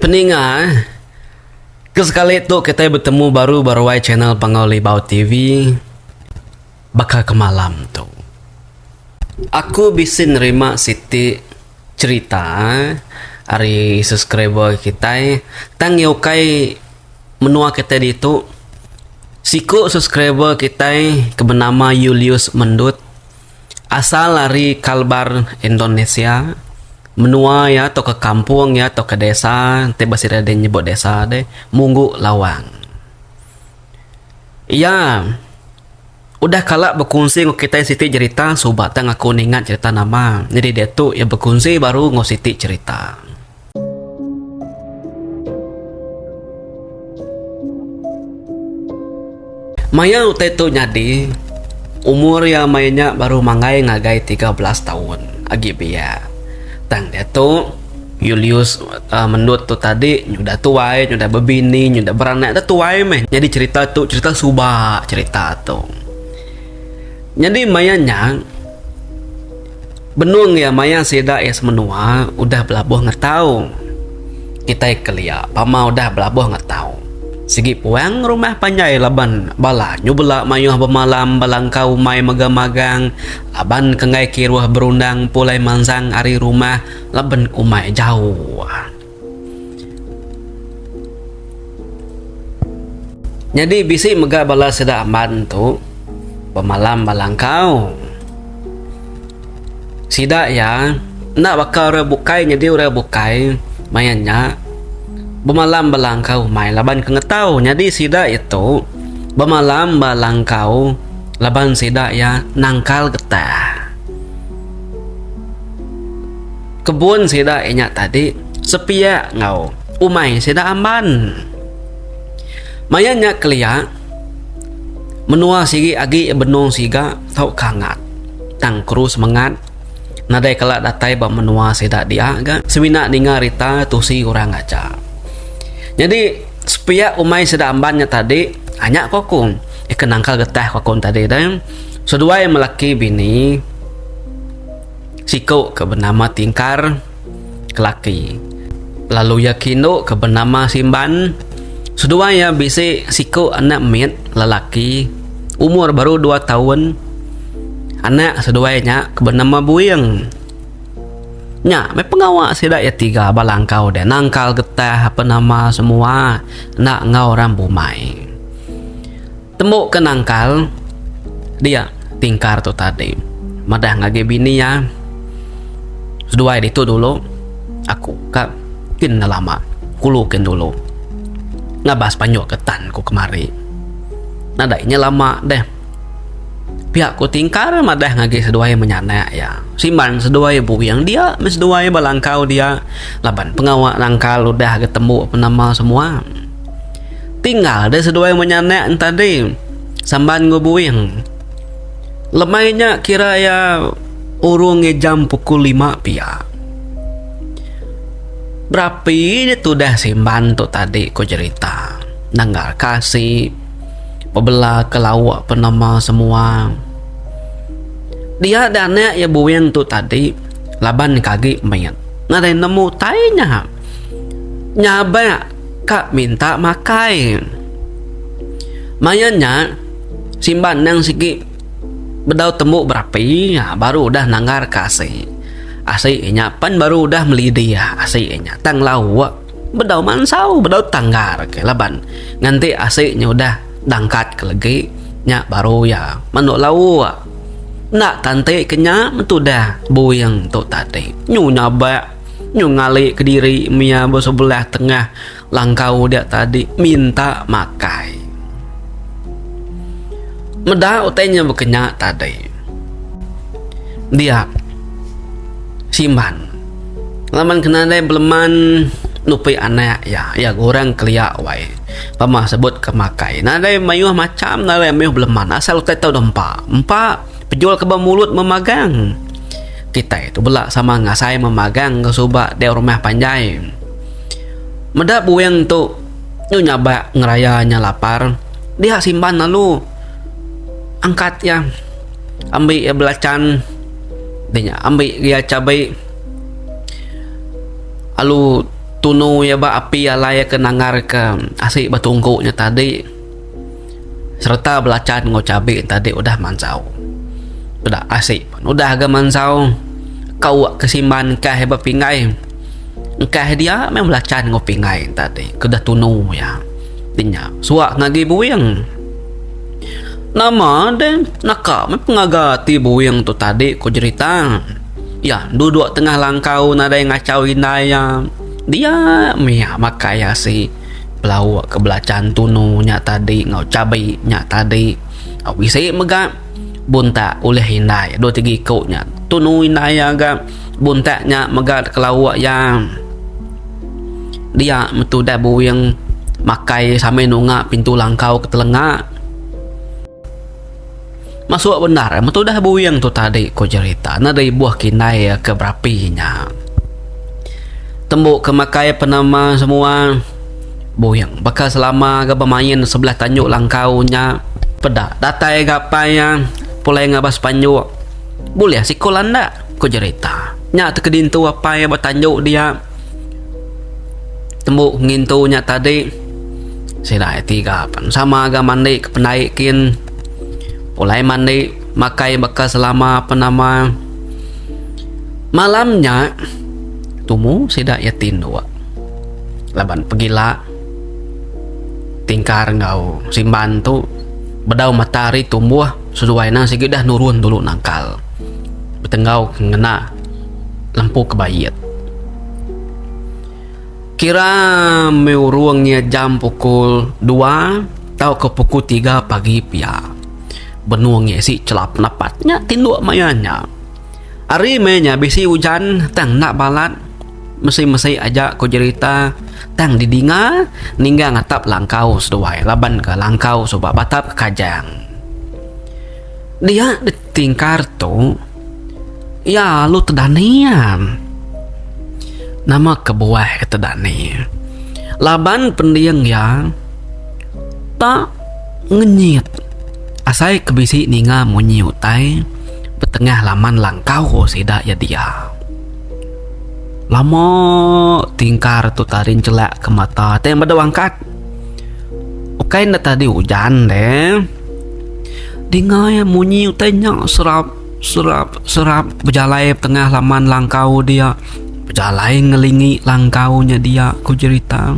Peninga eh. Ke sekali tu kitai betemu baru ba ruai channel Panggau Libau TV baka ke malam tu. Aku bisi nerima siti cherita ari subscriber kitai tang iya ukai menua kitai ditu. Siku subscriber kitai ke benama Yulius Mendut. Asal ari Kalbar, Indonesia, menua iya tauka kampung iya tauka desa enti ba sida deh nyebut desa deh Munggu Lawang. Iya udah kala bekunsi enggau kitai siti jerita suba tang aku ningat jerita nama. Nyadi diatu iya bekunsi baru enggau siti jerita. Maya utai tu nyadi, umur iya maya nya baru manggai ngagai tiga belas taun agi biak. Tang diatu, Yulius mendut tu tadi nyudah tuai, nyudah bebini, nyudah beranak dah tuai meh. Nyadi cherita tu cherita suba cherita tu. Nyadi maya nya. Benung iya maya sida iya semenua udah belabuh ngetau. Kitai kelia pama udah belabuh ngetau. Sigi puang rumah panjai laban bala nyubela mayuh bemalam bala engkau umai mega magang laban ke enggai kiruh berundang pulai manzang ari rumah laban umai jauh. Nyadi bisi mega bala sida Aman tu bemalam ba langkau. Sida iya enda baka orang bukai nyadi orang bukai maya nya bemalam ba langkau umai laban ke ngetau nyadi sida iya tu bemalam ba langkau laban sida iya nangkal getah. Kebun sida inya tadi sepiak enggau umai sida Amban. Maya nya kelia, menua sigi agi benung siga tau kangat. Tang Kru semengat nadai kala datai ba menua sida dia ga semina ninga rita tusi orang aja. Nyadi sepiak umai sida Amban nya tadi anya ko aku ke nangkal getah ko aku tadi deh seduai melaki bini. Siku ke benama Tingkar, kelaki, lalu iya ke indu ke benama Simban. Seduai iya bisi siku anak mit, lelaki, umur baru dua taun. Anak seduai nya ke benama Buing. Nya meh pengawa sida iya tiga ba langkau deh nangkal getah ape nama semua enda enggau orang bumai. Tembu ke nangkal dia tingkar tu tadi madah ngagi bini iya seduai ditu dulu aku ka kin enda lama kulu kin dulu ngabas panjok ke tan ku kemari nadai nya lama deh pia ku tingkar madah ngagi seduai menyanak iya simban seduai buin dia meh seduai ba langkau dia laban pengawa nangkal udah ga tembu penama semua. Tinggal deh seduai menya anak enta deh samban enggau buin. Lemai nya kira iya urung ngi jam pukul lima pia. Berapi nya tudah simban tu tadi ku jerita. Nangga ka asi bebela ka lauk pa nama semua. Dia da anak iya buin tu tadi laban agi mit nadai nemu utai nya. Nyabak. ka minta makai. Maia nya simban endang sigi bedau tembu berapi baru udah nanggar ka asi. Asi inya pan baru udah meli diah asi inya tang lauk bedau mansau bedau tanggar ke laban nganti asi nya udah dangkat ke legi nya baru iya menu lauk. Enda tanti ke nya metudah buing tu tadi nyu nya ba. Nyung ngali kediri mia besebelah tengah langkau dia tadi minta makai. Meda utai nya bekenya tadi. Dia Simban laban ke nadai beleman nupi anak iya, iya gurang kelia wai pemah sebut ke makai. Nadai mayuh macham nadai mayuh beleman asal utai tau deh empa. Empa. Pejul ke bemulut memagang. Kitai tu bela sama ngasai memagang ke suba dek rumah panjai. Meda buing tu nyu nyabak ngeraya nya lapar. Dia simban lalu angkat iya ambi iya belachan di nya ambi iya chabi lalu tunu iya ba api alai ke nanggar ke asi ba tungku nya tadi. sereta belacan enggau cabe tadi udah mansau peda asi pun udah ga mansau kau ke simban kai ba pingai engkah dia meh belacan enggau pingai tadi ke udah tunu iya ti nya suak ngagi buin nama deh naka meh pengaga ti buin tu tadi ku jerita iya duduk tengah langkau nadai ngachau indai iya dia mih makai asi. Belauk ke belacan tunu nya tadi enggau chabi nya tadi. Au bisi mega buntak ulih indai dua tiga iku nya. Tunu indai iya ga buntak nya mega kelauk iya. Dia metu udah buin makai sambil nunga pintu langkau ke telenga. Masuk bendar eh metudah buing tu tadi ku Jerita neda ibuh kinai iya ke berapi nya. Tembu ke makai penama semua buing baka selama ga bemain sebelah tanjung langkau nya peda datai ga apai iya pulai ngabas panjuk bulih siko landak ku Jerita. Nya te ke dintu apai iya ba tanjung dia. Tembu ngintu nya tadi sida iti ga pan sama ga mandi ke pendai kin pulai mandi makai baka selama pan nama. Malam nya tumu sida iya ti indu laban pegila tingkar enggau simban tu bedau matahari tumbuh seduai ne sigi dah nurun dulu nangkal betenggau ngena. lempu kebaie. Kira meh urung iya jam pukul dua tauka pukul tiga pagi pia. Benung iya isi chelap napat nya tinduk maya nya. Ari meh nya bisi ujan tang enda balat mesi-mesi aja ku jerita tang didinga ninggang atap langkau seduai laban ka langkau suba batap kajang. Dia ditingkar tu. Iya alu tedani am. Nama kebuah ke tedani? Laban pending iya ta ngenyit asai ke bisi ninga munyi utai betengah laman langkau sida iya dia. Lama tingkar tu taring chelak ke mata tai meda wangkat. Ukai enda tadi ujan le. Dingai munyi utai nya serap serap serap bejalai tengah laman langkau dia. Bejalai ngelingi langkau nya dia ku jerita.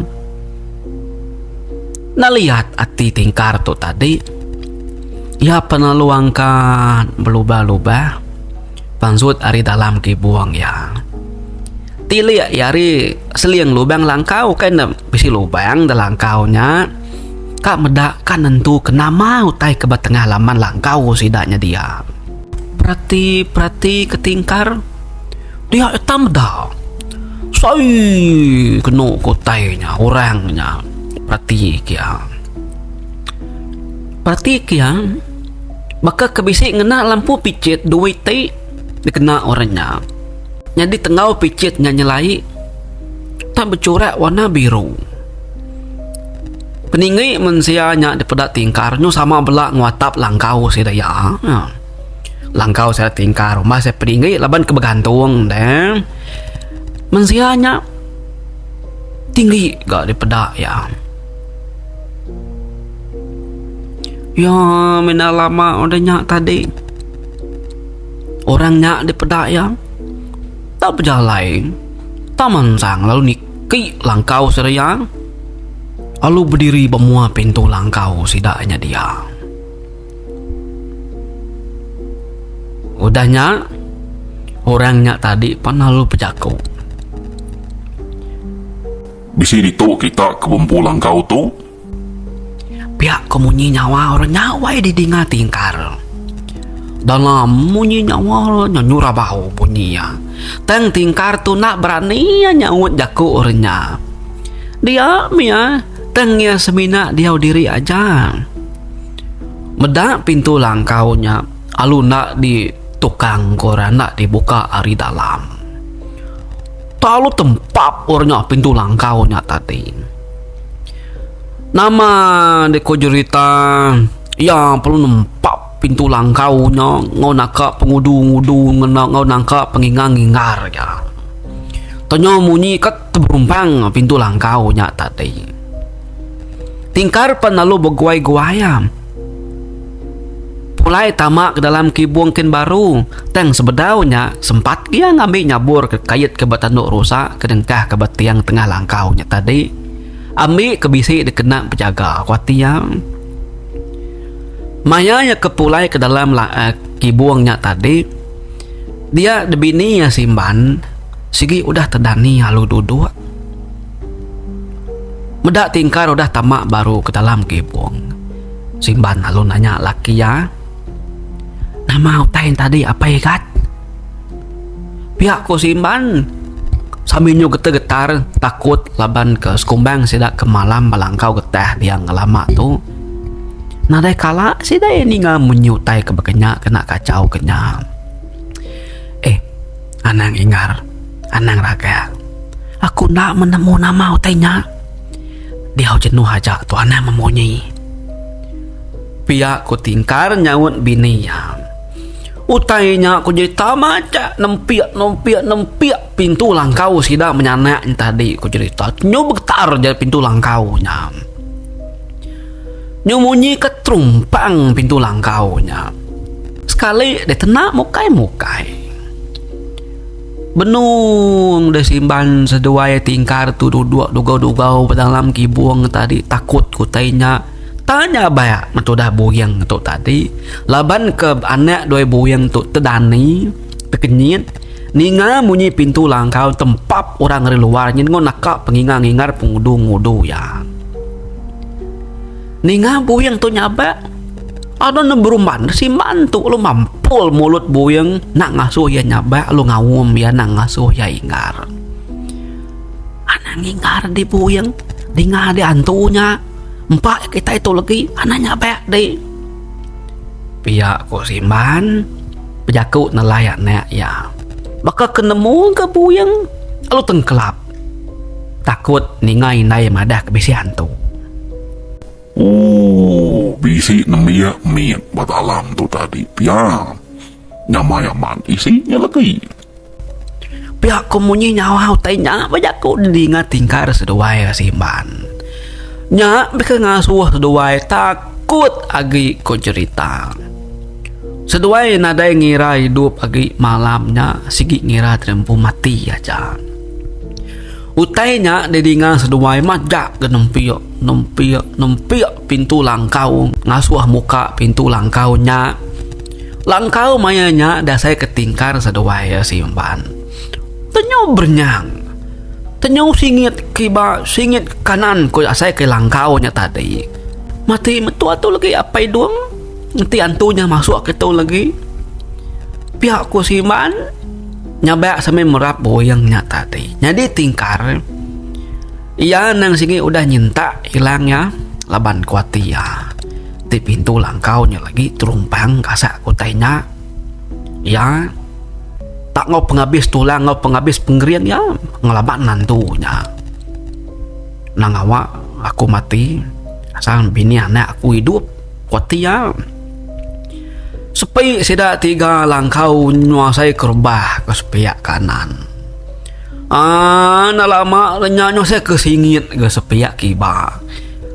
Neliat ati tingkar tu tadi. Iya penelong ka belubah lubah. Panzut ari dalam ke buong iya. Tilik iya ari seling lubang langkau kai ne bisi lubang da langkau nya. Ka meda ka nentu ke nama utai ke ba tengah laman langkau sida nyadi iya. Perati perati ke tingkar dia iya tak meda. Sai kenu ke utai nya orang nya perati ke iya. Perati ke iya. Baka ke bisi ngena lampu pichit dua iti dikena orang nya. Nyadi tenggau pichit nya nyelai tang bechurak warna biru. Peninggi mensia nya dipeda tingkar nyu sama bela enggau atap langkau sida iya. Langkau sida tingkar rumah sida peninggi laban ke begantung de. Mensia nya tinggi ga dipeda iya. Ya mina lama udah nya tadi orang nya dipeda iya tau bejalai taman sang lalu niki langkau seraya lalu bediri ba mua pintu langkau sida nya dia. Udah nya orang nya tadi pan lalu bejaku. Bisi ditu kita ke bempu langkau tu. Pia ke munyi nyawa orang nya wai di dinga tingkar. Dalam munyi nyawa orang nya nyura bau bunyi iya. Tang tingkar tu enda berani iya nyaut jaku orang nya. Dia mia tang iya semina diau diri aja. Meda pintu langkau nya alu enda di tukang ke orang enda di buka ari dalam. Talu tempap orang nya pintu langkau nya tadi. Nama dek ko jerita iya perlu nempap pintu langkau nya enggau naka pengudu-ngudu ngena enggau naka pengingar-ngingar iya. Tu nya munyi ka tebumpang pintu langkau nya tadi. Tingkar pan lalu beguai-guai am. Pulai tama ke dalam kibung kin baru tang sebedau nya sempat gia ngambi nyabur ke kait ke ba tanu rusa ke dengkah ke ba tiang tengah langkau nya tadi ambi ke bisi dikena bejaga ku ati iya. Maya iya ke pulai ke dalam uhh kibung nya tadi dia dibini iya simban sigi udah tedani alu duduk. Meda tingkar udah tama baru ke dalam kibung. Simban lalu nanya laki iya, Nama utai enti tadi apai gat? Pia ku Simban sambil nyu getar-getar takut laban ke sekumbang sida ke malam bala engkau getah dia ngelama tu nadai kala sida iya ninga munyi utai ke baka nya kena kachau ke nya. Eh anang Ingar. Anang raga. Aku enda menemu nama utai nya. Diau jenuh aja tu Anang memunyi. Pia ku Tingkar nyaut bini iya. Utai nya ku jerita macha nempik nempik nempik pintu langkau sida menyanak nya tadi ku jerita. Nyu begetar ja pintu langkau nya. Nyu munyi ke trumpang pintu langkau nya. Sekali deh tena mukai mukai. Benung deh Simban seduai ti engkar tu duduk dugau-dugau bedalam kibung tadi takut ke utai nya. Tanya bayak meh tudah buing tu tadi laban ke anak dua buing tu tedani, tekenyit, ninga munyi pintu langkau tempap orang ari luar nyin enggau naka pengingar-ngingar pengudu-ngudu iya. Ninga buing tu nyabak, ada ne beruman si man tu lu mampul mulut buing nak ngasuh iya nyabak lu ngaum iya nak ngasuh iya ingar. Anang ingar di buing ninga di antu nya empa iya kitai tu legi anang nyabak di. Pia ku si man bejaku nelai anak iya. Baka ke nemu ka buing lalu tengkelap. Takut ninga indai madah ke bisi hantu. Ooh bisi nembiak mit ba dalam tu tadi pia. Nyamai amat isi nya legi. Pia ku munyi nyawa utai nya ba jaku didinga tingkar seduai iya Simban. Nya bisi ngasuh seduai takut agi ku cherita. Seduai nadai ngira idup agi malam nya sigi ngira diri empu mati aja. Utai nya didinga seduai majak ga nempik nempik nempik pintu langkau ngasuh muka pintu langkau nya. Langkau maya nya dasai ka tingkar seduai iya simpan. Tenyo berenyang tenyo singit kiba singit kanan ku asai ka langkau nya tadi. Mati metu atu lagi Apai Dung. Enti antu nya masuk kitu legi, pia ku si Iban nyabak sambil merap buing nya tadi. Nyadi tingkar, iya nang sigi udah nyentak ilang iya laban ku ati iya. Ti pintu langkau nya legi terumpang gasak ku utai nya. Iya tak enggau pengabis tulang enggau pengabis pengering iya ngelaban antu nya. Nang awa aku mati asal bini anak aku idup. Kuati iya. Sepi sida tiga langkau nyuasai ke rebah ke sepiak kanan. Aaa enda lama le nya nyuasai ke singit ke sepiak kiba.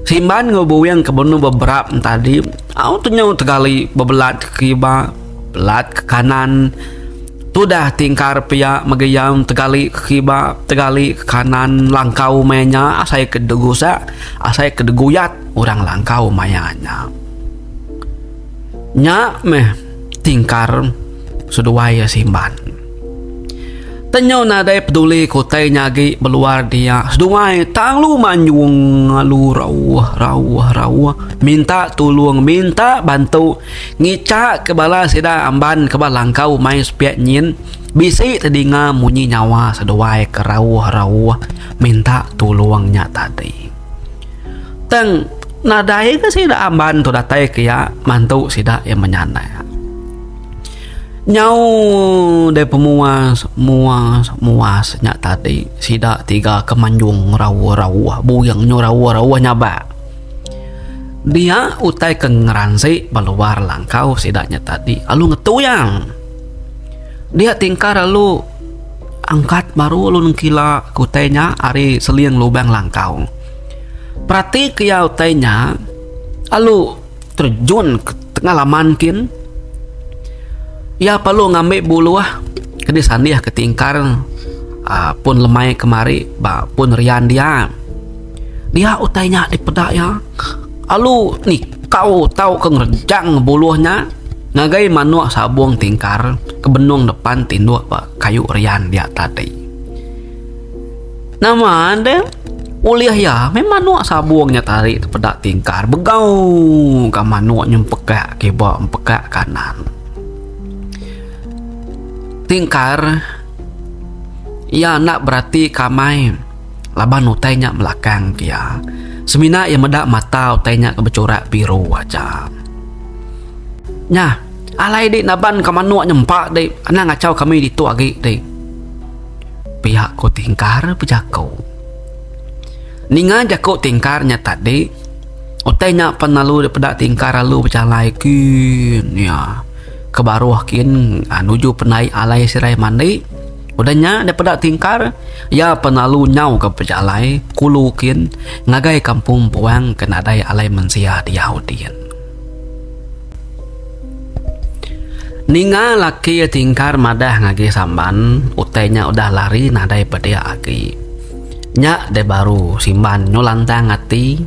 Simban enggau Buweng ke benung beberap tadi au tu nyau tegali bebelat ke kiba belat ke kanan. Tudah tingkar pia mega iya tegali ke kiba tegali ke kanan langkau maya nya asai ke degusak asai ke deguyat. orang langkau maya nya. Nya meh tingkar seduai iya simban. Tenyo nadai peduli ke utai nya agi beluar dia, seduai tang lu manyung lalu rauh rauh rauh minta tulung minta bantu ngica ke bala sida amban ke ba langkau mai sepiak nyin bisi tedinga munyi nyawa seduai ke rauh rauh minta tulung nya tadi. Tang nadai ke sida amban tu datai ke iya mantu sida iya menyanda. Nyau deh pemuas muas muas nya tadi sida tiga ke manjung rauh rauh buyung nyu rauh rauh nyabak. Dia utai ke ngeransik ba luar langkau sida nya tadi lalu ngetuyang. Dia tingkar lalu. Angkat baru lu nengkila ke utai nya ari seling lubang langkau. Perati ke iya utai nya lalu terjun ke tengah laman kin. Iya perlu ngambi buluh ke disandih ke tingkar aaa pun lemai kemari ba pun rian dia. Dia utai nya dipeda iya, alu ni kau tau ke ngerejang buluh nya ngagai manuk sabung tingkar ke benung depan tinduk ba kayu rian dia tadi. Nama deh ulih iya meh manuk sabung nya tadi tepeda tingkar begau ka manuk nyempeka kiba empeka kanan. Tingkar iya enda beratika amai. Laban utai nya melakang ke iya, semina iya meda mata utai nya ke bechurak biru aja. Nya, alai dih naban ka manuk nyempa dih, anang achau kami ditu agi dih. Pia ku Tingkar bejako. Ninga jako Tingkar nya tadi, utai nya pan lalu dipeda Tingkar lalu bejalai kin iya ke baruh kin nuju penai alai sirai mandi. Udah nya daripada Tingkar, iya penalu nyauka pejalai kulu kin ngagai kampung Buang ke nadai alai mensia diau din. Ninga laki Tingkar madah ngagai Samban, utai nya udah lari nadai pediak agi. Nya deh baru Simban nyu lantang ati,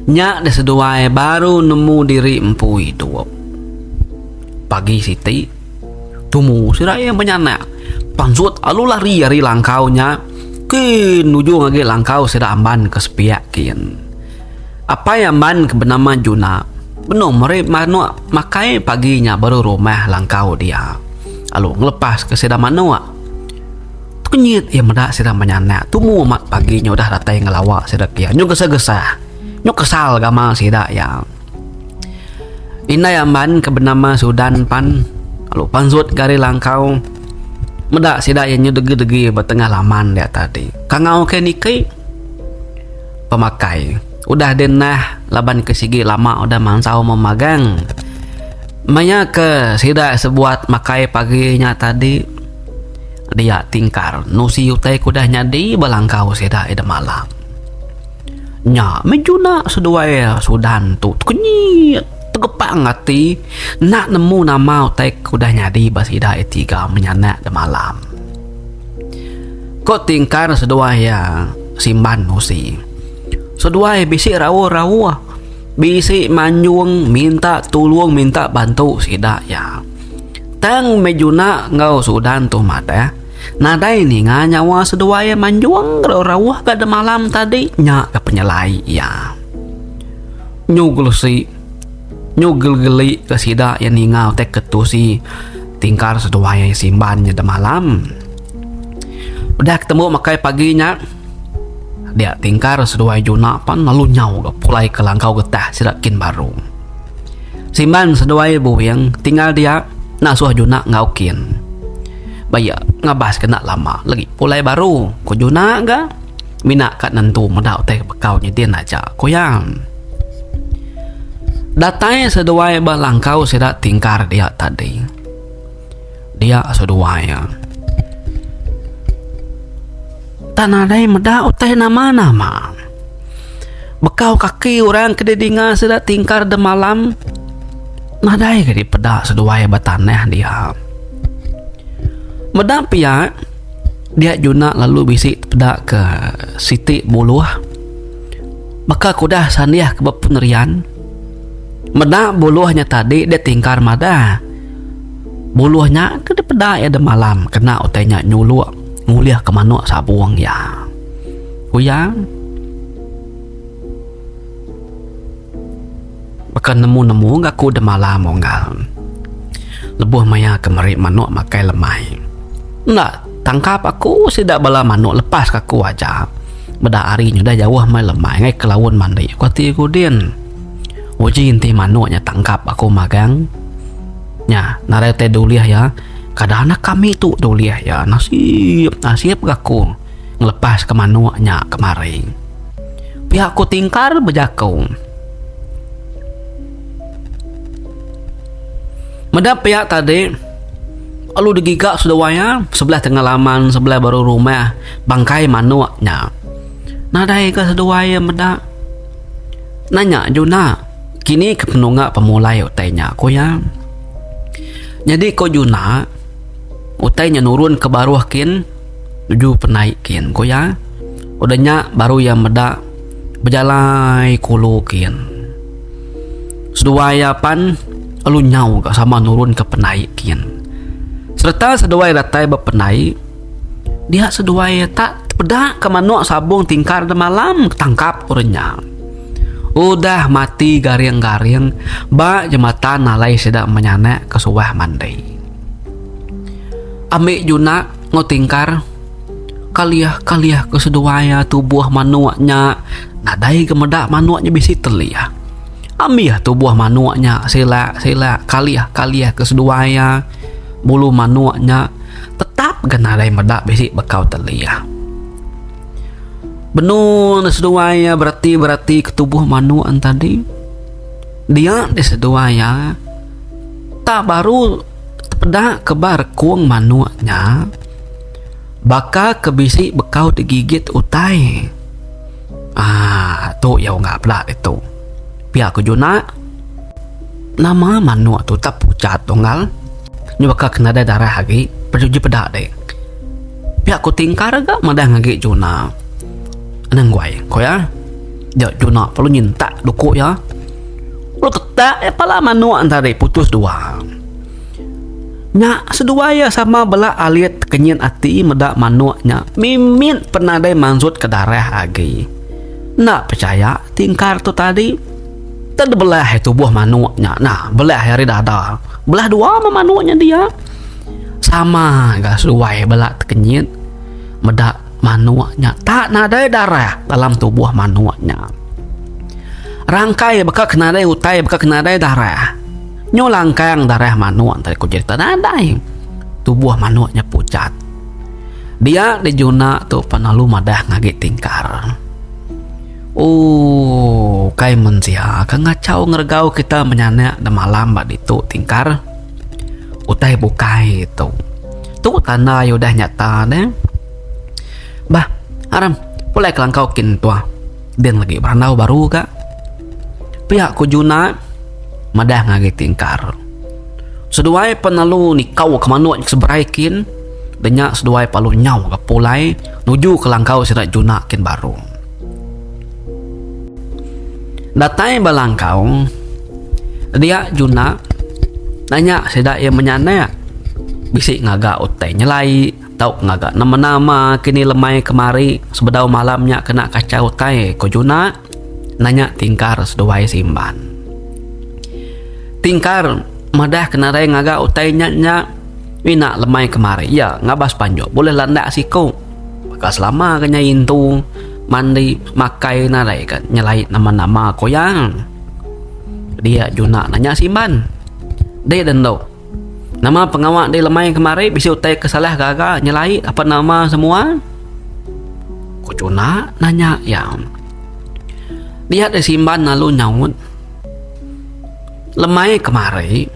nya deh seduai baru nemu diri empu idup. Pagi siti, Tumu sida iya benyanak pansut alu lari ari langkau nya kin nujung agi langkau sida Amban ke sepiak kin. Apai Amban ke benama Juna benung meri manuk makai pagi nya baru rumah langkau dia lalu ngelepaska sida manuk. Tekenyit iya meda sida benyanak tumu amat pagi nya udah datai ngelawa sida pia nyau gesah-gesah nyau kesal gamal sida iya. Indai Amban ke benama Sudan pan lalu pansut gari langkau meda sida iya nyau degi-degi ba tengah laman dia tadi. Kangau ke niki pemakai udah deh neh laban ke sigi lama udah mansau meh magang. Maya ke sida sebuat makai pagi nya tadi dia tingkar nusi utai ke udah nyadi ba langkau sida ida malam. Nya meh juna seduai Sudan tu tekenyi tegepang ati enda nemu nama utai ke udah nyadi ba sida iya tiga menyanak demalam. Ko tingkar seduai iya Simban Musi, Seduai bisi rauh-rauh, bisi manjung minta tulung minta bantu sida iya. Tang meh juna enggau Sudan tu madah. Nadai ninga nyawa seduai iya manjung lalu rauh ga demalam tadi nya ga penyelai iya. Nyu gelusi nyu gelegeli ga sida iya ninga utai ke tusi tingkar seduai iya simban nya demalam. Udah ketemu makai pagi nya dia tingkar seduai juna pan lalu nyau ga pulai ke langkau getah sida kin baru. Simban seduai buwing tinggal dia nasuh juna enggau kin. Ba iya, ngabas ke enda lama legi pulai baru, ku Junah ga mina ka nentu meda utai ke bekau nyidin aja, ku iya. Datai seduai ba langkau sida tingkar dia tadi. Dia seduai iya. Tang nadai meda utai nama-nama. Bekau kaki orang ke didinga sida tingkar demalam nadai ke dipeda seduai ba tanah dia. Meda pia dia juna lalu bisi peda ke siti buluh baka ke udah sanih ke ba pun rian meda buluh nya tadi dia tingkar madah buluh nya ke dipeda iya demalam kena utai nya nyulok ngulih ke manok sabong iya. Kuyang baka nemu-nemu ngaku demala munggal. Lebuh maya ke meri manok makai lemai. Enda tangkap aku sida bala manok lepas ke aku aja. Meda hari nya udah jauh meh lemai ngai ke laun mandi ku ati ku din. Uji enti manok nya tangkap aku magang nya nadai utai dulih iya. Kada anak kami tu dulih iya. Nasip nasip ngaku. ngelepaska manuk nya kemari. Pia ku Tingkar bejaku. Meda pia tadi, lalu digiga seduai iya sebelah tengah laman sebelah baru rumah bangkai manuk nya. Nadai ga seduai iya meda. Nanya Juna, Kini ke penungak pemulai utai nya? ku iya. Nyadi ku Juna, utai nya nurunka baruh kin. Nuju penai kin ku iya. Udah nya baru iya meda bejalai ke ulu kin. Seduai iya pan lalu nyau ga sama nurun ke penai kin. Sereta seduai datai ba penai dia seduai ta peda ke manok sabong tingkar da malam tangkap orang nya. Udah mati garing garing ba jematan alai sida menyanak ke suah mandi. Ambi juna. Enggau tingkar, kaliah kaliah ke seduai iya tubuh manuk nya nadai ke meda manuk nya bisi teliah. Ambih tubuh manuk nya silak silak kaliah kaliah ke seduai iya bulu manuk nya tetap ga nadai meda bisi bekau teliah. Benu ne seduai iya bereti bereti ke tubuh manuk nya tadi dia ti seduai iya ta baru. Tepeda ke ba rekung manuk nya, baka ke bisi bekau digigit utai. Aaa, tu iya ungak pela ditu. Pia ku Juna, Nama manuk tu tak pucat, Unggal? Nya baka ke nadai darah agi, pejuji peda dek. Pia ku Tingkar ga madah ngagai Juna. Anang guai, ku iya. Jok Juna perlu nyentak duku iya. Utak iya pala manuk enti ari putus dua. Nya seduai iya sama bela alit kenyit ati meda manuk nya mimit pan nadai mansut ke darah agi. Enda pechaya ti engkar tu tadi. Ted belah ari tubuh manuk nya nah belah ari dada. Belah dua meh manuk nya dia. Sama ga seduai bela ti kenyit meda. Manuk nya tak nadai darah dalam tubuh manuk nya. Rangkai baka ke nadai utai baka ke nadai darah. Nyu langkang darah manuk entara ku cerita nadai. Tubuh manuk nya pucat. Dia dijuna tu pan lalu madah ngagi tingkar. Ooh kai mensia ke ngachau ngeregau kita menyanak demalam ba ditu tingkar. Utai bukai tu. Tu tanda iya udah nyata ne. Bah, Aram, pulai kelangkau kin tuah. Din lagi berandau baru ga. Pia ku Juna madah ngagai ti engkar. Seduai pan lalu nikau ke manuk nya ke seberai kin. Denya seduai pa lalu nyau ga pulai nuju kelangkau sida Juna kin baru. Datai ba langkau, dia Juna nanya sida iya menyanak bisi ngaga utai nyelai tau ngaga nama-nama kini lemai kemari sebedau malam nya kena kachau utai ku Juna nanya Tingkar seduai Simban. Tingkar madah ke narai ngaga utai nya nya mina lemai kemari iya ngabas panjuk bulih landak siku. Baka selama ke nyai intu mandi makai nadai ka nyelait nama-nama ku iya. Dia juna nanya Simban. Deh den tu. Nama pengawa deh lemai kemari bisi utai ke salah gaga nyelait apan nama semua? Ku juna nanya iya. Dia deh Simban lalu nyaut. Lemai kemari,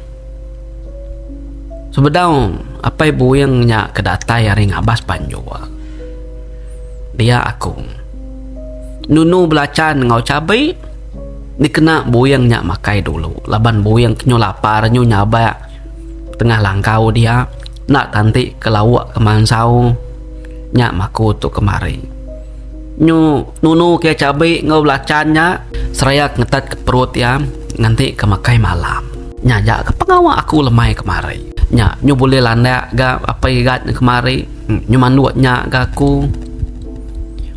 sebedau apai buing nya ke datai ari ngabas banjur, dia aku nunu belachan enggau chabi dikena buing nya makai dulu laban buing ke nyu lapar, nyu nyabak. Tengah langkau dia enda tanti ke lauk ke mansau nya maku tu kemari. Nyu nunu ke cabi enggau belachan nya seraya ke ngetat ke perut iya nganti ke makai malam. Nya aja ke pengawa aku lemai kemari. Nya nyu bulih landak ga apai igat ne kemari. Nyu manduk nya ga aku.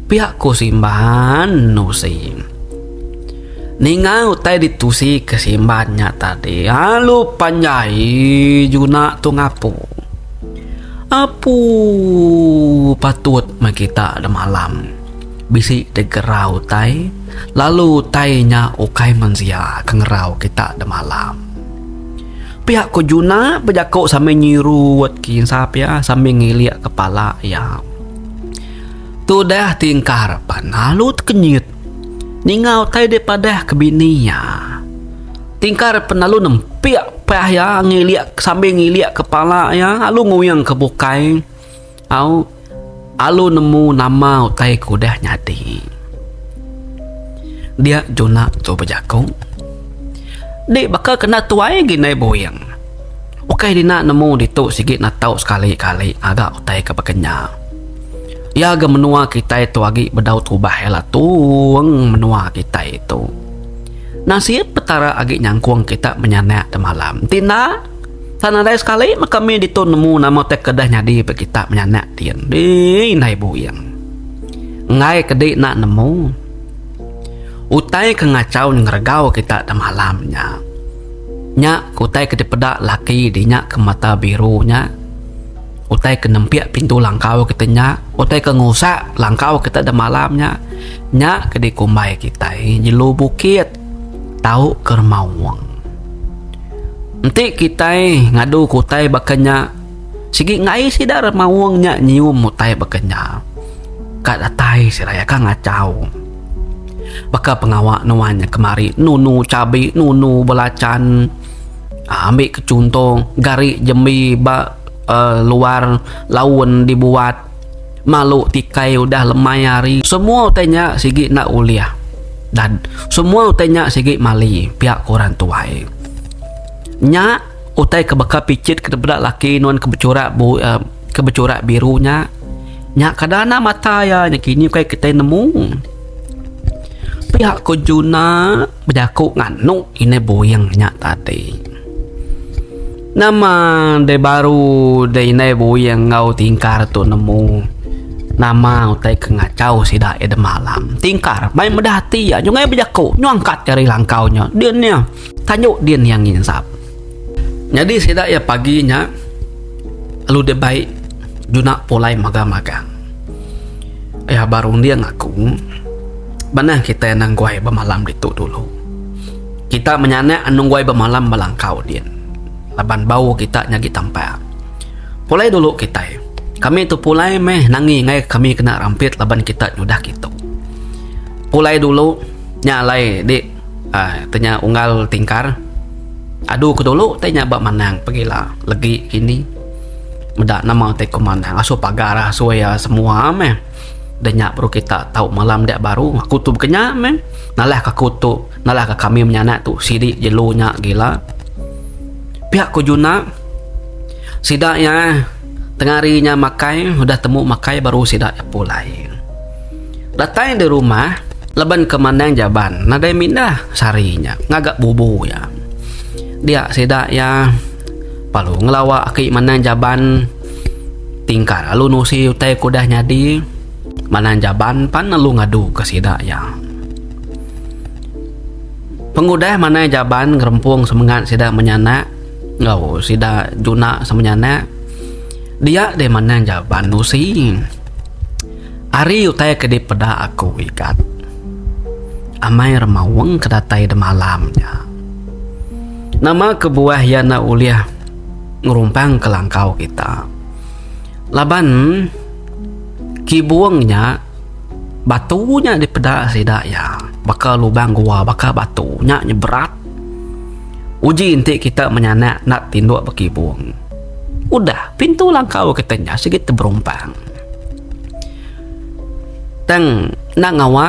Pia ku Simba enun usi. Ninga utai ditusi ke Simban nya tadi lalu panjai juna tu ngapu. Apu patut meh kita da malam bisi digerau utai lalu utai nya ukai mensia ke ngerau kita da malam. Pia ku juna bejaku sambil nyiru wet kinsa pia sambil ngilik kepala iya. Tudah tingkar pan lalu tekenyit. Ninga utai deh padah ke bini iya. Tingkar pen lalu nempik pah iya ngilik sambil ngilik kepala iya lalu nguyang ke bukai au lalu nemu nama utai ke udah nyadi. Dia juna tu bejaku. Di baka kena tuai gin ai buin. Ukai dina nemu ditu sigi natau sekali-kali ngaga utai ke baka nya. Iya ga menua kitai tu agi bedau tubah iya la tung menua kitai tu. Nasib petara agi nyangkong kita menya anak ke malam. Enti enda tan nadai sekali meh kami ditu nemu nama utai ke deh nyadi ba kita menya anak ti dih indai buin. Enggai ke di enda nemu utai ke ngachau ngeregau kita da malam nya. Nya utai ke dipeda laki dinya ke mata biru nya. Utai ke nempik pintu langkau kita nya, utai ke ngusak langkau kita da malam nya, nya ke dikumbai kitai jelu bukit tau ke remaung. Enti kitai ngadu ke utai baka nya, sigi ngai sida remaung nya nyium utai baka nya, ka datai sida iya ka ngachau. Baka pengawa nuan nya kemari nunu chabi, nunu belachan. Ambi ke chunto, gari jembi ba. luar laun dibuat malu tikai udah lemai hari semua utai nya sigi enda ulih dan semua utai nya sigi mali pia ku orang tuai nya utai ke baka picit ke peda laki nuan ke becurat ke becurat biru nya nya kada enda mata iya nya kini ukai kitai nemu pia ko Juna. Bejaku nganu inai buing nya tadi. Nama deh baru deh inai buing enggau tingkar tu nemu. Nama utai ke ngachau sida iya deh malam. Tingkar mai meda ati iya nyungkai bejaku nyungkat jari langkau nya. Din iya. Tanjuk din iya nginsap. Nyadi sida iya pagi nya lalu dia bai juna pulai magang-magang. Iya berunding aku, Manah kitai nengguai bemalam ditu dulu. Kita menyanak nengguai bemalam belangkau din laban bau kita nyagi tampak. Pulai dulu kitai. Kami tu pulai meh nangi ngair kami kena rampit laban kita nyudah kitu. Pulai dulu nya alai dik. Ai te nya unggal tingkar adu ke dulu te nya ba manang pegila legi kini meda nama te ko manang asu pagar asu ia semua meh de nya baru kita tau malam dia baru aku tu baka nya meh nalah ka aku tu nalah ka kami menyanak tu sidi jelu nya gila pia ko juna sida ia Tengah hari nya makai udah temu makai baru sida nyapu alai. Datai di rumah laban ke Manang Jaban nadai mindah sehari nya ngaga bubu iya. Dia sida iya lalu ngelawa aki Manang Jaban ti engka lalu nusi utai ke udah nyadi. Manang Jaban pan lalu ngadu ke sida iya. Pengudah Manang Jaban ngerempung semengat sida menyanak. Enggau sida juna sama nya anak dia deh manang jaban usi. Ari utai ke dipeda aku ikat amai remaung ke datai demalam nya. Nama kebuah iya enda ulih ngerumpang ke langkau kita. Laban kibung nya batu nya dipeda sida iya baka lubang gua baka batu nya nya berat. Uji enti kita menyanak enda tinduk bekibung. Udah, pintu langkau kita nya sigi teberumpang. Tang enda ngawa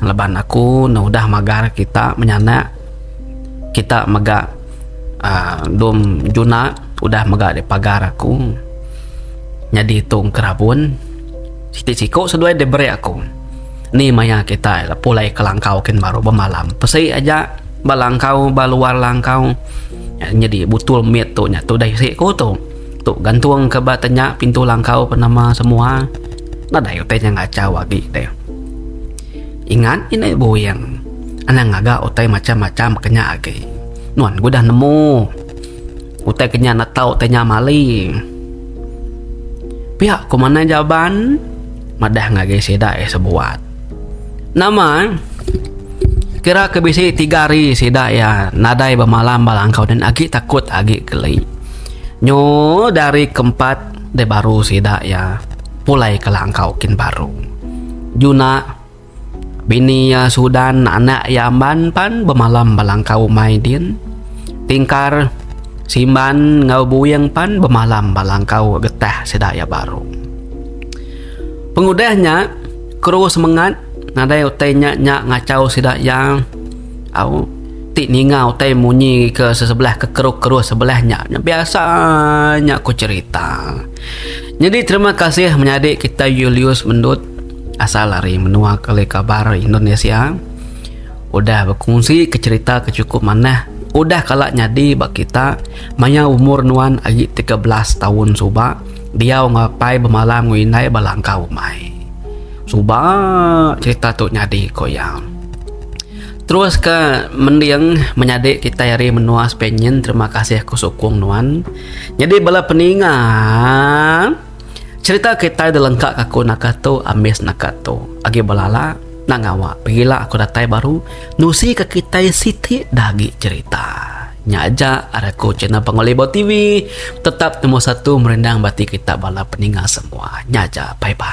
laban aku ne udah magar kita menyanak kita mega aaa dom juna udah mega dep pagar aku nyadi tong kerabon. Siti siko seduai dep beri aku. Ni maya kitai la pulai ke langkau kin baru bemalam pesi aja ba langkau ba luar langkau nyadi butul mit tu nya tudah isi ku tu tu gantung ke ba tenya pintu langkau pa nama semua nadai utai nya ngachau agi deh ingat indai buin anang ngaga utai macam-macam ke nya agi nuan ku dah nemu. Utai ke nya enda tau utai nya mali. Pia ku manah Jaban madah ngagai sida iya sebuat. Nama kira ke bisi tiga hari sida iya nadai bemalam ba langkau nen agi takut agi geli. Nyu da hari ke empat deh baru sida iya pulai ke langkau kin baru. Juna. Bini iya Sudan, anak iya Amban pan bemalam ba langkau umai din. Tingkar, Simban enggau Buing pan bemalam ba langkau getah sida iya baru. Pengudah nya, kru semengat nadai utai nya nya ngachau sida iya au ti ninga utai munyi ke sesebelah ke kru-kru sebelah nya biasa nya ku cherita. Nyadi terima kasih menyadi kitai Julius Mendut. asal ari menua ke leka barat Indonesia udah bekunsi ke cerita ke cukup manah udah kala nyadi ba kita maya umur nuan agi tiga belas taun suba diau ngapai bemalam enggau indai ba langkau umai suba cerita tu nyadi ku iya terus ka mending menyadi kitai ari menua Spain nyin terima kasih aku sukung nuan nyadi bala peninga. Cerita kitai dilengka ka aku naka tu ambis naka tu agi belala nak ngawa pegila aku datai baru nusi ka kitai siti da agi cerita. Nya aja ari aku channel Pangu Libur TV tetap nombor satu merindang ba ati kita bala peninga semua. Nya aja bye bye.